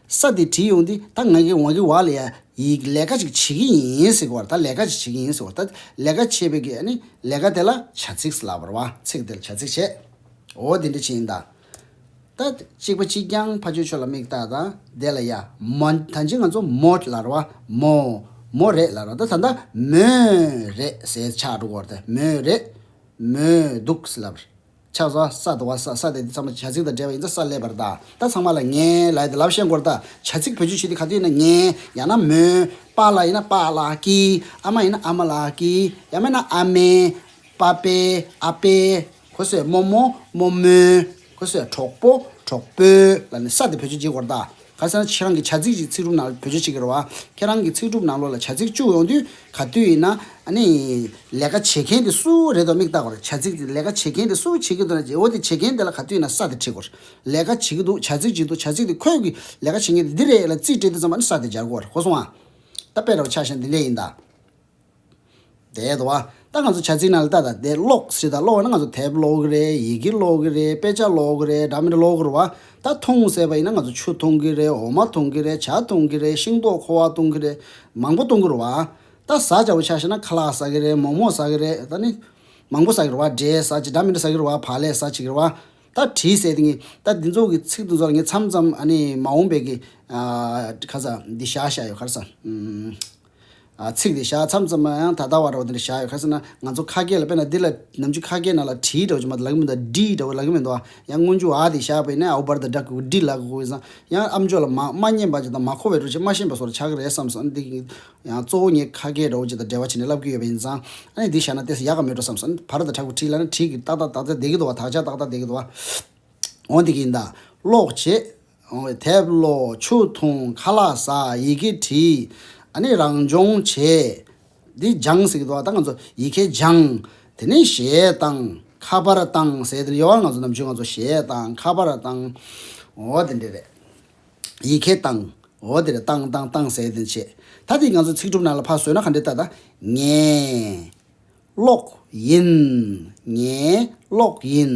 ས་དེ་བྲིས་ཡོང་དུས་ད་ང་གིས་ཝང་གི་བ་ལ་ཡ་ཡིག་ལས་ཀ་ཅིག་བྱེད་ཀྱི་ཡིན་ཟེར་གི་བར་ད་ལས་ཀ་ཅིག་བྱེད་ཀྱི་ཡིན་ཟེར་བར་ད་ལས་ཀ་བྱེད་པའི་གི་ནི་ལས་ཀ་དེ་ལ་བྱ་ཚིགས་ལབ་བར་བ་ཚིགས་དེ་ལ་བྱ་ཚིགས་བྱེད་འོ་དེ་འདྲ་བྱེད་ཡིན་ད། ད་གཅིག་པ་གཅིག་རྐྱང་ཕ་ཆོས་ཆོས་ལ་མིག་བལྟ་ད་དེ་ལ་ཡ་མ་ད་ཅིག་ང་ཚོ་མོད་ལར་བ་མོ་མོ་རེད་ལར་བ་ད་ད་ད་མོའི་རེད་ཟེར་ཆགས་འགྲོ་གི་བར་ད་མོའི་རེད་མོའི་འདུག་ཟེར་ལབ་བར། ཕྱག་ས་ས་དུ་བ་ས་ས་དེ་དེ་ཚང་མ་བྱ་ཚིག་དང་འབྲེལ་བ་ཡིན་ད་ས་ལས་པར་ད་ད་ཚང་མ་ལ་ངའི་ལ་ཡིན་ད་ལབ་ཤེས་མགོར་ད་བྱ་ཚིག་བོད་བརྗོད་བྱེད་དེ་ག་དུས་ཡིན་ན་ངའི་ཡང་ན་མོའི་པ་ལ་ཡིན་ན་པཱ་ལགས་ཀྱི་ཨ་མ་ཡིན་ན་ཨ་མ་ལགས་ཀྱི་ཡང་མེད་ན་ཨ་མའི་པཱ་པའི་ཨ་ཕའི་གོ་སོས་རྨོ་མོ་རྨོ་མོའི་གོ་སོས་གྲོགས་པོ་གྲོགས་པོའི་ལ་ནི་ས་དེ་བོད་བརྗོད་བྱེད་མགོར་ད། ཁ་སང་ཁྱེད་རང་གི་བྱ་ཚིག་ཅིག་ཚིག་གྲུབ་ནང་བོད་ཆས་ཅིག་གི་རེད་བ། ཁྱེད་རང་གི་ཚིག་གྲུབ་ནང་ལོགས་ལ་བྱ་ཚིག་བཅུག་ཡོང་དུས་ག་དུས་ཡིན་ན། ནི། ལས་ཀ་བྱེད་མཁན་དེ་སུའོ་རེད་དོ་མིག་བལྟ་གོར་བྱ་ཚིག་དེ་ལས་ཀ་བྱེད་མཁན་དེ་སུའོ་བྱེད་ཀྱི་འདུག་ན་རྗེ་བོ་དེ་བྱེད་མཁན་དེ་ལ་ག་དུས་ཡིན་ན་ས་དེ་ཁྲིད་གོར། ལས་ཀ་བྱེད་ཀྱི་འདུག་བྱ་ཚིག་ཅིག་འདུག་བྱ་ཚིག་དེ་ཁོས་གི་ལས་ཀ་བྱེད་མཁན་དེ་འདི་རེད་ལ་ཙིས་སྤྲད་དུས་ཙམ་ཨ་ནི་ས་དེ་སྦྱར་གོར་གོ་སོང་ང། ད་དཔེ་ར་བ་ཆགས་ཤིང་འདི་འདྲས་ཡིན་ད། དེས་ད་ལྟ་ང་ཚོ་བྱ་ཚིག་ནང་ལ་ལྟ་དང་དེ་ཀློག་ཞེས་དང་ཀློག་ན་ང་ཚོ་དེབ་ཀློག་གི་རེད་ཡི་གེ་ཀློག་གི་རེད་དཔེ་ཆ་ཀློག་གི་རེད་འདྲ་མི་འདྲ་ཀློག་དགོས་རུ་བ་ད་འཐུང་ཟེར་བ་ཡིན་ན་ང་ཚོ་ཆུ་འཐུང་གི་རེད་འོ་མ་འཐུང་གི་རེད་བྱ་འཐུང་གི་རེད་ཤིང་ཏོག་ཁོ་བ་འཐུང་གི་རེད་མང་པོ་འཐུང་གི་རུ་བ། ད་བཟའ་བྱ་བོ་ཆགས་ཤེས་ན་ཁ་ལག་བཟའ་གི་རེད་མོག་མོག་བཟའ་གི་རེད་ད་ནི། མང་པོ་བཟའ་གི་རུ་བ་འབྲས་བཟའ་བྱེད་འདྲ་མི་འདྲ་བཟའ་གི་རུ་བ་བག་ལེབ་བཟའ་བྱེད་ཀྱི་རུ་བ། ད་བྲིས་བསལ་དེ་ངས་ད་འདི་ཚོ་གི་ཚིག་དུ་ཚོ་ལ་ངས་མཚམས་མཚམས་ཨ་ནི་མ་འོངས་པའི་གི། ཨ། ཁ་ས་འདི་བཞག་བཞག་ཡོད་ཁར་ས། ཚིག་འདི་བཞག་མཚམས་ཙམ་ཡང་ད་ལྟ་བར་རོ་འདི་འདྲ་བཞག་ཡོད་ཁ་ཟེར་ན་ང་ཚོ་ཁ་སྐད་ལ་དཔེ་ན་འདི་ལ་ནམ་རྒྱུན་ཁ་སྐད་ནང་ལ་བྲིས་འདྲ་བོ་ཅིག་མ་ལག་མི་འདུག་ཨ་འབྲི་འདྲ་བོ་ལག་གི་མི་འདུག་ཨ་ཡང་སྔོན་འཇུག་ཨ་དེ་བཞག་པའི་ནས་ཨའུ་བར་དང་སྒྲ་གུག་འབྲི་ལ་གུག་ཡིན་ཙང་ཡང་ཨམ་ཅོག་ལ་མ་མ་སྙན་པ་ཅིག་དང་མ་མཁོ་བའི་འགྲོ་ཆས་མ་ཞན་པ་སོགས་ལ་ཆགས་ཀྱི་རེད་བསམས་སོང་འདི་ཡང་གཙོ་བོ་ངས་ཁ་སྐད་འདྲ་བོ་ཅིག་དང་འབྲེལ་བ་བྱས་ནས་ལབ་ཀྱི་ཡོད་པ་ཡིན་ཙང་ཨ་ནི་འདི་བཞག་ན་ལྟས་ས་ཡག་ག་མེད་འགྲོ་བསམས་སོང་བར་དང་སྒྲ་གུག་བྲིས་ལ་ནི་བྲིས་ཀྱི་ཏག་ཏག་དག་ཆ་བསྡད་ཀྱི་འདུག་བ་དག་ཆ་ཏག་ཏག་བསྡད་ཀྱི་འདུག་བ་འོ་འདི་ཀྱི་ཡིན་ད་ཀློག་བྱེད། ཡོང་བའི་དེབ་ཀློག་ཆུ་འཐུང་ཁ་ལག་ཟ་ཡི་གེ་བྲིས་ཨ་ནི་རང་སྦྱོང་བྱས། འདི་སྦྱངས་ཟེར་གི་འདུག་ད་ང་ཚོ་ཡི་གེ་སྦྱངས། དེ་ནས་གཞས་བཏང་ཁ་པར་བཏང་ཟེར་དེ་ལ་ཡོང་བར་ང་ཚོ་ནམ་ཆུང་ང་ཚོ་གཞས་བཏང་ཁ་པར་བཏང། འོ་དེ་འདྲས་རེད། ཡི་གེ་བཏང། འོ་དེ་རེད་བཏང་བཏང་བཏང་ཟེར་དེ་བྱས། ད་དེ་ང་ཚོ་ཚིག་གྲུབ་ནང་ལ་ཕར་བཟོས་ན་ག་འདྲས་ད་ད། ངས། ཀློག། ཡིན། ངས། ཀློག། ཡིན།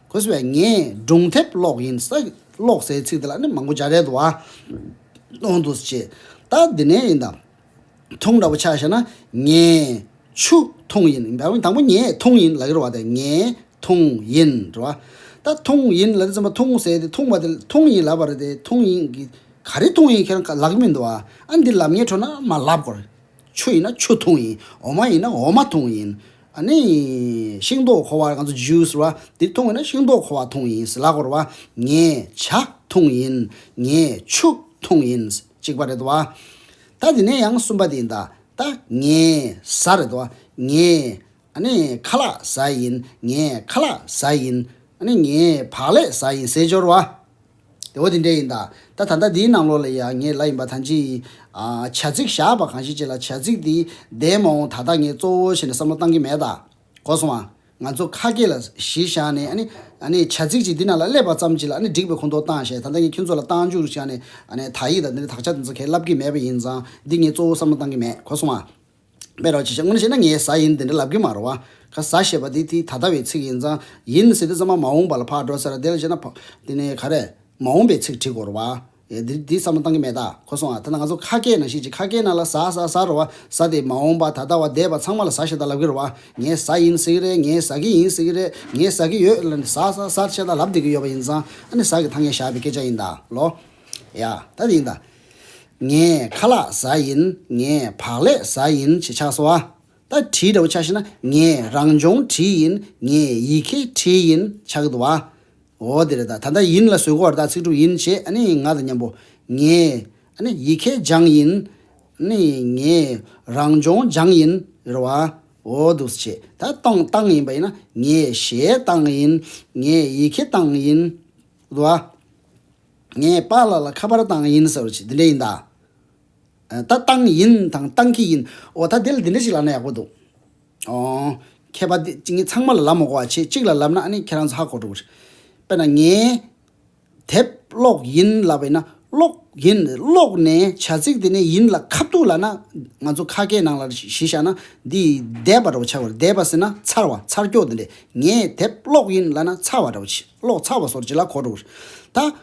ཁོས་བས་ངས་སྒྲུང་དེབ་ཀློག་ཡིན་ས་ཀློག་སའི་ཚིག་དེ་ལ་ནི་མང་པོ་བྱ་རལ་དུ་བ་གཏོང་འདུག་ཅེས་ད་འདི་ནས་ཡིན་དང། ཐུང་འདྲ་པོ་ཆགས་ཤེ་ན་ངས་ཆུ་ཐུང་ཡིན་བ་དང་པོ་ངས་ཐུང་ཡིན་ལ་ཡོར་བ་དེ་ངས་ཐུང་ཡིན་རེད་བ། ད་ཐུང་ཡིན་ལ་དེ་ཙམ་པ་ཐུང་ཟེར་དེ་ཐུང་བ་དེ་ཐུང་ཡིན་ལབ་པ་རེད་དེ་ཐུང་ཡིན་གྱི་ག་རེ་ཐུང་ཡིན་ཁྱེད་རང་ལག་གི་མི་འདུག་བ་ཨ་འདི་ལབ་ཉེས་འཕྲོ་ན་མ་ལབ་དགོས། ཆུ་ཡིན་ན་ཆུ་འཐུང་ཡིན། འོ་མ་ཡིན་ན་འོ་མ་འཐུང་ཡིན། ནི། ཤིང་ཏོག་ཁོ་བ། Juice། ར། དེ་འཐུང་ཡིན་ན་ཤིང་ཏོག་ཁོ་བ་འཐུང་ཡིན། ལ་གོ་ར། ངས། བྱ། འཐུང་ཡིན། ངས། ཆུ། འཐུང་ཡིན། གཅིག་པ་རེད་དོ། ད། དེ་ནས་ཡང་གསུམ་པ་དེ་ཡིན། ད། ངས། ཟ། རེད་དོ། ངས། ནི། ཁ་ལག། ཟ། ཡིན། ངས། ཁ་ལག། ཟ། ཡིན། ནི། ངས། བག་ལས། ཟ། ཡིན། ཟས་སྦྱོར་བ། འོ་དེ་འདྲས་ཡིན་ད། ད་ད་ལྟ་འདིའི་ནང་ལོགས་ལ་ཡང་ངས་ལ་ཡིན་པ་ཐང་ཅིག་ཡིན། བྱ་ཚིག་བཞག་པ་གང་ཞིག་ཅེས་ལ་བྱ་ཚིག་འདི་བདེན་མ་འོངས་ད་ལྟ་ངས་གཙོ་བོ་བྱས་ནས་བསམ་བློ་བཏང་གི་མེད་ད། གོ་སོང་ཨ། ང་ཚོ་ཁ་སྐད་ལ་གཞི་བཞག་ནས་ཨ་ནི། བྱ་ཚིག་ཅིག་འདི་ནང་ལ་སླེབས་པ་ཙམ་གྱིས་ལ་ཨ་ནི་འགྲིག་པའི་ཁོ་ཐོག་བཏང་ཞེས་ད་ལྟ་ངས་ཁྱོད་ཚོ་ལ་བཏང་འཇུག་རུ་བྱས་ནས་ཨ་ནི་དག་ཡིག་དང་འདི་འདྲའི་དག་ཆ་དེ་ཚོ་ཁས་ལབ་ཀྱི་མེད་པ་ཡིན་ཙང་འདི་ངས་གཙོ་བོ་བསམ་བློ་བཏང་གི་མེད་གོ་སོང་ཨ། སྨྲས་རོགས་གྱིས་ཤིག་སྔོན་བཤད་ན་ངའི་བཟའ་ཡིན་དེ་འདྲ་ལབ་གི་མ་རོ། ཁ་བཟའ་ཞེས་པ་དེ་དེའི་ད་ལྟ་བའི་ཚིག་ཡིན་ཙང་ཡིན་ཟེར་དུས་ཙམ་མ་མ་འོངས་པ་ལ་ཕར་འགྲོ་ཟེར་ར་དེ་ལ་བཤད་ན་དེ་ནི་ག་རེ། མ་འོངས་པའི་ཚིག་བྲིས་དགོས་རོ་བ། འདིར་དེའི་བསམ་བློ་བཏང་གི་མེད་ད་ཁོ་སོང་ཨ་ཐ་ན་ང་ཚོ་ཁ་སྐད་ནང་བཤད་ཅིག་ཁ་སྐད་ནང་ལ་བཟའ་བཟའ་བཟའ་རོ་བ་བཟའ་དེ་མ་འོངས་པ་ད་ལྟ་བ་འདས་པ་ཚང་མ་ལ་བཟའ་ཞེས་ད་ལབ་གི་རོ་བ། ངའི་བཟའ་ཡིན་ཟེར་གི་རེད་ངའི་བཟའ་གི་ཡིན་ཟེར་གི་རེད་ངའི་བཟའ་གི་ཡོད་ལ་ནི་བཟའ་བཟའ་བཟའ་ཞེས་ད་ལབ་བསྡད་ཀྱི་ཡོད་པ་ཡིན་ཙང་ཨ་ནི་བཟའ་གི་ཐ་སྙད་བཞག་པའི་སྐད་ཆ་ཡིན་ད་ལོ། ཡ། ད་དེ་ཡིན་ད། ངས་ཁ་ལག་ཟ་ཡིན་ངས་བག་ལས་ཟ་ཡིན་ཞེས་ཆགས་སོ། ད་བྲིས་འདྲ་བོ་ཆགས་ཤེ་ན་ངས་རང་སྦྱོང་བྲིས་ཡིན་ངས་ཡི་གེ་བྲིས་ཡིན་ཆགས་གི་འདུག་བ། འོ་དེ་རེད་ད་ད་ལྟ་ཡིན་ལ་བཟོད་གོ་བར་ད་ཚིག་གྲུབ་ཡིན་ཞེས་ཨ་ནི་ང་དང་མཉམ་པོ། ངས་ཨ་ནི་ཡི་གེ་སྦྱངས་ཡིན་ཨ་ནི་ངས་རང་སྦྱོང་སྦྱངས་ཡིན་རེད་བ། འོ་འདུག་ཟེར་བྱས་ད་སྟོང་བཏང་ཡིན་པ་ཡིན་ན་ངས་ཞལ་བཏང་ཡིན་ངས་ཡི་གེ་བཏང་ཡིན་འདུག་བ། ངས་པཱ་ལགས་ལ་ཁ་པར་བཏང་ཡིན་ཟེར་བ་ཞིག་འདི་འདྲས་ཡིན་ད། ད་བཏང་ཡིན་དང་བཏང་གི་ཡིན་འོ་ད་དེ་ལ་འདི་འདྲ་ཞིག་ལབ་ན་ཡག་པོ་འདུག་ཨོ། མཁས་པ་འདི་ངས་ཚང་མ་ལ་ལབ་མ་གོ་བ་ཁྱེད་གཅིག་ལ་ལབ་ན་ཨ་ནི་ཁྱེད་རང་ཚོ་ཧ་གོ་འགྲོ་གི་རེད། དཔེར་ན་ངས། དེབ་ཀློག་ཡིན་ལབ་པ་ཡིན་ན་ཀློག་ཡིན་ཀློག་ནས་བྱ་ཚིག་དེ་ནས་ཡིན་ལ་ཁ་བཏུག་ལ་ན་ང་ཚོ་ཁ་སྐད་ནང་ལ་གཞི་བཞག་ན་འདི་འདས་པ་འདྲ་བོ་ཆགས་པ་རེད་འདས་པ་ཟེར་ན་ཚར་བ་ཚར་སྐྱོག་འདི་འདྲས་ངས་དེབ་ཀློག་ཡིན་ལབ་ན་ཚར་བ་འདྲ་བོ་ཆེ། ཀློག་ཚར་བ་སོར་ཅི་ལ་གོ་འགྲོ། ད།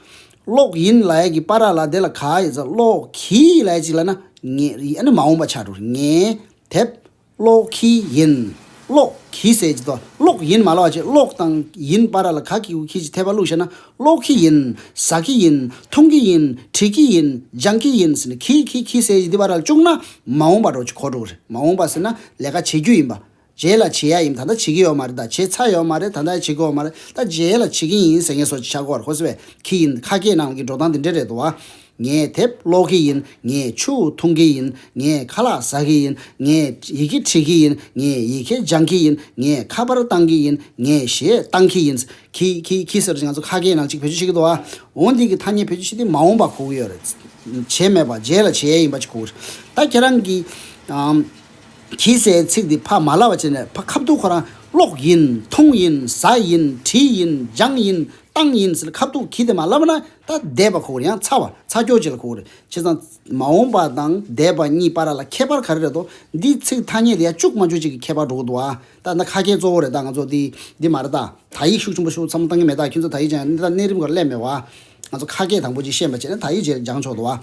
ཀློག་ཡིན་ལ་ཡ་གི་པ་ར་ལ་དེ་ལ་ག་ཡི་ཚ་ཀློག་གི་ཡི་ལ་ཡ་གཅིག་ལ་ན་ངེ་རི་ཨ་ནི་མ་འོངས་པ་ཆགས་འགྲོ། ངེ། དེབ། ཀློག་གི་ཡིན། ཀློག་གི་ཟེར་གྱི་དོ་ཀློག་ཡིན་མ་ལ་བ་ཅེས་ཀློག་དང་ཡིན་པ་ར་ལ་ག་གི་གུ་གི་ཅི་ཐད་པ་བླུགས་ཤེ་ན་ཀློག་གི་ཡིན། ཟ་གི་ཡིན། མཐོང་གི་ཡིན། བྲིས་གི་ཡིན། སྦྱང་གི་ཡིན་ཟེར་ནས་གི་གི་གི་ཟེར་གྱི་འདི་པ་ར་ལ་བཅུག་ན་མ་འོངས་པ་འགྲོ་གི་གོ་འགྲོ། མ་འོངས་པ་ཟེར་ན་ལས་ཀ་བྱེད་རྒྱུ་ཡིན་པ་རྗེས་ལ་བྱེད་ཡ་ཡིན་ད་ལྟ་བྱེད་ཀྱི་ཡོད་མ་རེད་ད་བྱེད་ཚར་ཡོད་མ་རེད་ད་ལྟ་བྱེད་དགོས་ཡོད་མ་རེད་ད་རྗེས་ལ་བྱེད་ཀྱི་ཡིན་ཟེར་ངེས་སོ་ཅི་ཆ་གོ་བར་ཧོས་བས་ཁི་ཡིན་ཁ་སྐད་ནང་གི་འགྲོ་སྟངས་དེ་འདྲས་རེད་དོ། ངས་དེབ་ཀློག་གི་ཡིན་ངས་ཆུ་བོ་འཐུང་གི་ཡིན་ངས་ཁ་ལག་ཟ་གི་ཡིན་ངས་ཡི་གེ་བྲིས་ཀྱི་ཡིན་ངས་ཡི་གེ་སྦྱང་གི་ཡིན་ངས་ཁ་པར་བཏང་གི་ཡིན་ངས་གཞས་བཏང་གི་ཡིན། ཁི་ཁི་ཁི་ཟེར་ང་ཚོ་ཁ་སྐད་ནང་གཅིག་བེད་སྤྱོད་བྱེད་ཀྱི་འདུག་ཨ་འོ་འདི་གི་ཐ་སྙད་བེད་སྤྱོད་བྱེད་དེ་མ་འོངས་པ་གོ་གི་ཡོད་རེད། བྱེད་མེད་པ་རྗེས་ལ་བྱེད་ཡ་ཡིན་པ་ཅིག་གོ་གི་རེད་ད་ཁྱེད་རང་གིས། གྱིས་སའི་ཚིག་འདི་ཕ་མ་ལ་བ་ཅན་ནས་ཕ་ཁ་བཏུག་ཁོ་རང་ཀློག་ཡིན་མཐོང་ཡིན་ཟ་ཡིན་བྲིས་ཡིན་སྦྱངས་ཡིན་བཏང་ཡིན་ཟེར་ཁ་བཏུག་གྱིས་དེ་མ་བསླབ་པ་ན་ད་སྡད་པ་ཁོ་ར་ཡང་ཚ་བ་ཚ་སྐྱོ་བྱེད་ལ་ཁོ་ར་བྱེད་ཙང་མ་འོངས་པ་དང་སྡད་པ་གཉིས་པ་ར་ལ་ཁྱད་པར་ག་རེ་རེད་དོ་འདིས་ཚིག་ཐ་སྙད་དེ་ཡ་ཅུག་མ་ཅུག་ཅིག་གི་ཁྱད་པར་འགྲོ་གི་འདུག་ཨ་ད་ད་ཁ་སྐད་གཙོ་བོ་རེད་ད་ང་ཚོ་འདི་འདི་མ་རེད་ད་ད་ཡིག་ཤུགས་ཆུང་པོ་ཤུགས་ཚ་མོ་བཏང་གི་མེད་ད་ཁྱོད་ཚོ་ད་ཡིག་སྦྱངས་ཡ་ད་གནས་རིམ་གོ་ལ་སླད་མེད་བ་ང་ཚོ་ཁ་སྐད་དང་པོ་ཅིག་ཤེས་པ་བྱས་ན་ད་ཡིག་སྦྱངས་ཆོག་འདུག་ཨ།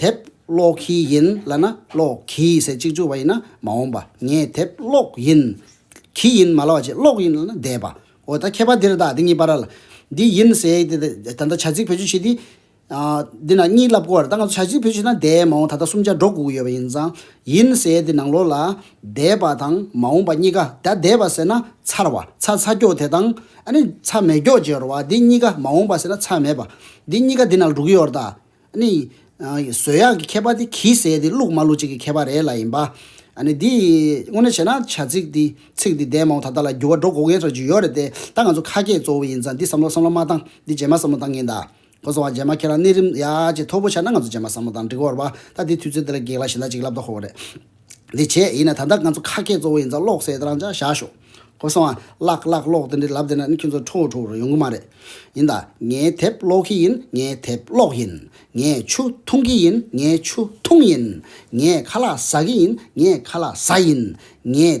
དེབ་ཀློག་གི་ཡིན་ལ་ན་ཀློག་གི་ཟེར་གཅིག་གཅུག་བ་ཡིན་ན་མ་འོངས་པ་ངས་དེབ་ཀློག་ཡིན། གི་ཡིན་མ་ལ་བ་ཅིག་ཀློག་ཡིན་ལ་ན་བསྡད་པ་འོ་ད་ཁྱད་པར་འདིར་དག་འདི་གཉིས་པར་ལ་འདི་ཡིན་ཟེ་ད་ད་ད་བྱ་ཚིག་བེད་སྤྱོད་བྱེད་དེ། འདི་ན་གཉིས་ལབ་གོ་ད་ང་ཚོ་བྱ་ཚིག་བེད་སྤྱོད་ན་བསྡད་མ་འོངས་ད་ད་སུམ་ཆ་འགྲོ་དགོས་ཀྱི་ཡོད་པ་ཡིན་ཙང་ཡིན་ཟེ་འདི་ནང་ལོགས་ལ་བསྡད་པ་དང་མ་འོངས་པ་གཉིས་ཀ་ད་བསྡད་པ་ཟེར་ན་ཚར་བ་ཚ་ཚ་སྐྱོག་དེ་དང་ཨ་ནི་ཚ་མེད་སྐྱོག་བརྗེ་རོ་བ་འདི་གཉིས་ཀ་མ་འོངས་པ་ཟེར་ན་ཚ་མེད་པ་འདི་གཉིས་ཀ་འདི་ནང་ལ་འགྲོ་གི་ཡོད་ར་ད་ནི། བཟོས་ཡག་གི་ཁྱད་པར་དེ་གིས་ཟེར་དེ་བླུགས་མ་བླུགས་བཅས་ཀྱི་ཁྱད་པར་རེད་ལ་ཡིན་པ། ནི། འདི་དངོས་གནས་བྱས་ན་བྱ་ཚིག་འདི་ཚིག་འདི་འདས་མ་འོང་ད་ལྟ་ལ་འགྱུར་བ་འགྲོ་དགོས་ངེས་ཚོར་ཅིག་ཡོད་རེད་དེ་ད་ང་ཚོ་ཁ་སྐད་གཙོ་བོ་ཡིན་ཙང་འདི་བསམ་བློ་བསམ་བློ་མ་བཏང་འདི་རྗེས་མ་བསམ་བློ་བཏང་གིན་ད། ཁོ་ཚོ་བ་རྗེས་མ་ཁྱེད་རང་གནས་རིམ་ཡག་ཅིག་མཐོ་པོ་ཆགས་ན་ང་ཚོ་རྗེས་མ་བསམ་བློ་བཏང་འགྲིག་གོ་ར་བ་ད་འདི་དུས་ཚོད་འདི་ལ་གེགས་ལ་ཞེ་ད་ཅིག་ལབ་ད་ཁོ་བོ་རེད། འདི་བྱས་ཡིན་ན་ད་ལྟ་ང་ཚོ་ཁ་སྐད་གཙོ་བོ་ཡིན་ཙང་ཀློག་གསལ་རང་ཅག་བཞག་ཤོག་ཁོ་སོང་ཨ། བཀླག་བཀླག་ཀློག་དེ་འདྲའི་ལབ་བསྡད་ན་ནི་ཁྱོད་ཚོ་ཁྲོ་བོ་ཁྲོ་བོ་རུ་ཡོང་གི་མ་རེད། ཡིན་ད། ངས་དེབ་ཀློག་གི་ཡིན་ངས་དེབ་ཀློག་ཡིན། ངས་ཆུ་འཐུང་གི་ཡིན་ངས་ཆུ་འཐུང་ཡིན། ངས་ཁ་ལག་ཟ་གི་ཡིན་ངས་ཁ་ལག་ཟ་ཡིན། ངས།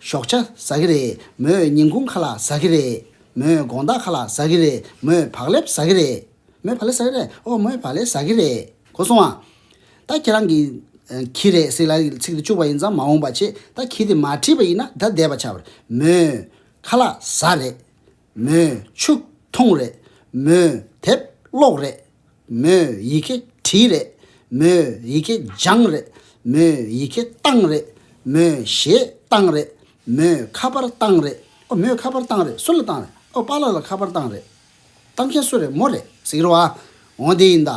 ཞོགས་ཆ་ཟ་གི་རེད་མོས་ཉིན་གུང་ཁ་ལག་ཟ་གི་རེད་མོས་དགོང་དག་ཁ་ལག་ཟ་གི་རེད་མོས་བག་ལེབ་ཟ་གི་རེད། མོས་བག་ལེབ་ཟ་གི་རེད། ཨོ་མོས་བག་ལེབ་ཟ་གི་རེད་གོ་སོང་ཨ། ད་ཁྱེད་རང་གིས། གྱིས་རེད་ཟེར་ལ་ཚིག་དེ་བཅུག་པ་ཡིན་ཙང་མ་འོངས་པ་ཆེད་ད་གྱིས་དེ་མ་བྲིས་པ་ཡིན་ན་ད་བསྡད་པ་བྱ། མོས། ཁ་ལག་ཟ་རེད། མོས་ཕྱུགས་འཐུང་རེད། མོས་དེབ་ཀློག་རེད། མོས་ཡི་གེ་བྲིས་རེད། མོས་ཡི་གེ་སྦྱངས་རེད། མོས་ཡི་གེ་བཏང་རེད། མོས་ཞེ་བཏང་རེད། མོས་ཁ་པར་བཏང་རེད། ཨོ་མོས་ཁ་པར་བཏང་རེད་སུ་ལ་བཏང་རེད། ཨོ་པཱ་ལགས་ལ་ཁ་པར་བཏང་རེད། བཏང་མཁན་སུ་རེད་མོ་རེད་ཟེར་གྱི་རོ། འོ་དེ་ཡིན་ད།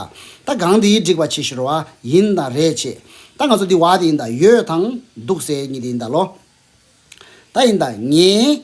ད་སྒང་དེའི་སྒྲིག་པ་བྱེད་ཤི་རོ། ཡིན་ད་རེད་བྱེད། ད་ང་ཚོ་འདི་བ་དེ་ཡིན་ད་ཡོད་དང་འདུག་ཟེར་གྱི་འདི་ཡིན་ད་ལོ། ད་ཡིན་ད་ངའི།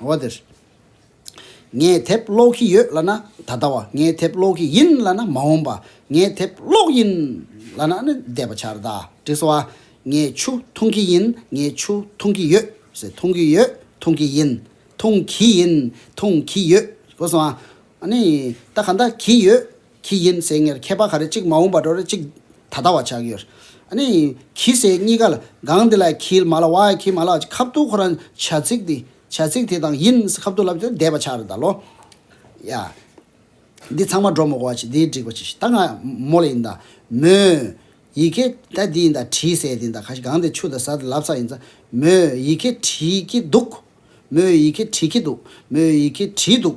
བ་དེར། ངས་དེབ་ཀློག་གི་ཡོད་ལ་ན་ད་ལྟ་བ། ངས་དེབ་ཀློག་གི་ཡིན་ལ་ན་མ་འོངས་པ། ངས་དེབ་ཀློག་ཡིན་ལ་ན་ནི་འདས་པ་ཆར་དག་བྲིས་སོ། ངས་ཆུ་འཐུང་གི་ཡིན་ངས་ཆུ་འཐུང་གི་ཡོད། ཟེར། འཐུང་གི་ཡོད་འཐུང་གི་ཡིན། འཐུང་གི་ཡིན་འཐུང་གི་ཡོད། གོ་སོང་ཨ། ཨ་ནི། ད་ག་འདྲ་གི་ཡོད། ཁྱི་ཡིན་ཟེར་ངེར་མཁས་པ་ག་རེ་གཅིག་མ་འོངས་པ་འགྲོ་རེ་གཅིག་ད་ལྟ་བ་ཆགས་ཡོད། ཨནི། ཁྱི་ཟེར་གཉིས་ཀ་ལ་གང་དེ་ལ་ཁྱིལ་མ་ལ་བ་ཁྱིལ་མ་ལ་ཁ་བཏུག་ཁོ་རང་བྱ་ཚིག་དེ་བྱ་ཚིག་དེ་དང་ཡིན་ཟེར་ཁ་བཏུག་ལབ་ཏེ་བསྡད་པ་ཆགས་རེ་ད་ལོ། ཡ། འདི་ཚང་མ་སྒྲོ་མོ་གོ་བ་ཆེ་འདིའི་སྒྲིག་པ་ཆེ་ཞེས་ད་ང་མོ་ལ་ཡིན་ད་མོ། ཡི་གེ་ད་འདི་ཡིན་ད་བྲིས་ཟེར་དེ་ད་ག་ཞིག་གང་དེ་ཆུ་ད་ཟ་དེ་ལབ་ས་ཡིན་ད་མོ། ཡི་གེ་བྲིས་ཀྱི་འདུག་མོ། ཡི་གེ་བྲིས་ཀྱི་འདུག་མོ། ཡི་གེ་བྲིས་འདུག།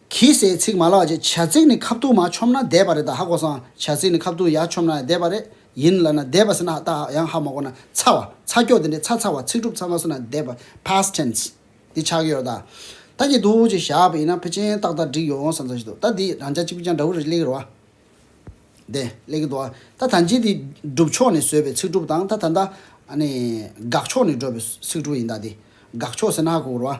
གིས་སའི་ཚིག་མ་ལགས་ཀྱི་བྱ་ཚིག་ནི་ཁ་བཏུགས་མ་ཆོམས་ན་བཟླས་པ་རེད་ད་ཧ་གོ་སང་བྱ་ཚིག་ནི་ཁ་བཏུགས་ཡ་ཆོམས་ན་ཡང་བཟླས་པ་རེད་ཡིན་ལབ་ན་བཟླས་པ་ཟེར་ན་ཧ་ད་ཡང་ཧ་མ་གོ་ན་ཚ་བ་ཚ་སྐྱོ་དེ་འདྲའི་ཚ་ཚ་བ་ཚིག་གྲུབ་ཚ་མ་ཟེར་ན་བཟླས་པ past tense འདི་ཆགས་ཀྱི་ཡོད་རེད་ད་ད་ཀྱི་འདུག་ཅེས་བཞག་པ་ཡིན་ན་ཕ་ཅན་ཏག་ཏག་འགྲིག་ཡོང་བསམ་ཚོད་ཅིག་འདུག་ད་འདིས་རང་ཅག་གཅིག་པུས་ཀྱང་འདྲ་བོ་རེ་གླེང་གི་རེད་བ། དེ་གླེང་གི་འདུག་ཨ་ད་ད་འཇིག་འདི་སྒྲུབ་ཕྱོགས་ནས་བཟོས་པའི་ཚིག་གྲུབ་དང་ད་ད་ད་ཨ་ནི་དགག་ཕྱོགས་ནས་བགྲོད་པའི་ཚིག་གྲུབ་ཡིན་ད་འདི་དགག་ཕྱོགས་ཟེར་ན་ཧ་གོ་གི་རེད་བ།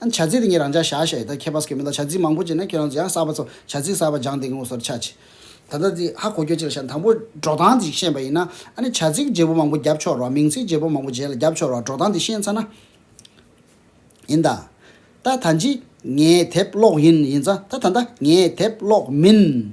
བྱ་ཚིག་དེ་ཉིད་རང་ཅག་བྱ་བྱེད་དག་མཁས་པ་སྐྱོན་མེད་དོ་བྱ་ཚིག་མང་པོ་སྤྱད་ན་ཁྱོད་རང་ཚོ་ཡང་གསར་པ་ཚོ་བྱ་ཚིག་གསར་པ་སྦྱངས་ཏེ་ངོ་སོར་ཆ་ཆེ། ད་ལྟ་འདི་ཧ་གོ་རྒྱུ་གཅིག་ལ་བྱ་དང་པོ་འགྲོ་སྟངས་འདི་ཞིག་ཤེས་པ་ཡིན་ན་ཨ་ནི་བྱ་ཚིག་བརྗེ་པོ་མང་པོ་བརྒྱབ་ཆོག་རོགས་མིང་ཚིག་བརྗེ་པོ་མང་པོ་རྗེས་ལ་བརྒྱབ་ཆོག་རོགས་འགྲོ་སྟངས་འདི་ཤེས་ཚར་ན། ཡིན་ད། ད་ད་འཇིག་ངའི་དེབ་ཀློག་ཡིན་ཡིན་ཙང་ད་ད་ད་ངའི་དེབ་ཀློག་མིན།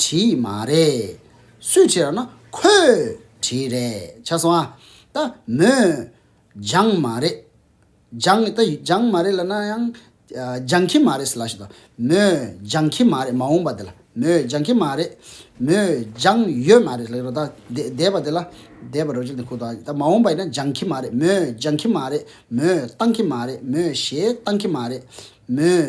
བྲིས་མ་རེད། སུས་བྲིས་ར་ན་ཁོས་བྲིས་རེད་ཆ་སོང་ཨ། ད་མོས། སྦྱངས་མ་རེད། སྦྱངས་ད་སྦྱངས་མ་རེད་ལ་ན་ཡང། སྦྱངས་ཁྱི་མ་རེད་ལ་ཞིག་དང། མོས་སྦྱངས་ཁྱི་མ་རེད་མ་འོངས་པ་དེ་ལ། མོས་སྦྱངས་ཁྱི་མ་རེད། མོས་སྦྱངས་ཡོད་མ་རེད་ལ་ཞིག་དང། འདས་པ་དེ་ལ། འདས་པ་རོ་གཅིག་དེ་ཁུག་དང། ད་མ་འོངས་པ་ཡིན་ན་སྦྱངས་ཁྱི་མ་རེད། མོས་སྦྱངས་ཁྱི་མ་རེད། མོས་བཏང་ཁྱི་མ་རེད། མོས་ཞེས་བཏང་ཁྱི་མ་རེད། མོས།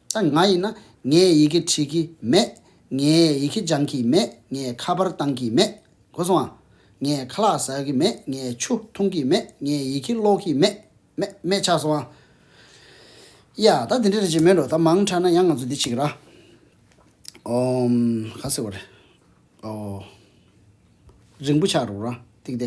ད་ང་ཡིན་ན་ངས་ཡི་གེ་བྲིས་ཀྱི་མེད། ངས་ཡི་གེ་སྦྱང་གི་མེད། ངས་ཁ་པར་བཏང་གི་མེད། གོ་སོང་ཨ། ངས་ཁ་ལག་ཟ་གི་མེད། ངས་ཆུ་འཐུང་གི་མེད། ངས་ཡི་གེ་ཀློག་གི་མེད། མེད་མེད་ཆགས་སོང་ཨ། ཡ། ད་དེ་འདྲ་རེད་ཅེས་སྨྲས་འགྲོ་ད་མང་དྲགས་ན་ཡང་ང་ཚོ་འདི་གཅིག་ར། ཨོ། ག་ཟེར་བ་རེད། ཨོ། རིང་པོ་ཆགས་འགྲོ་ར། ཐིག་དེ།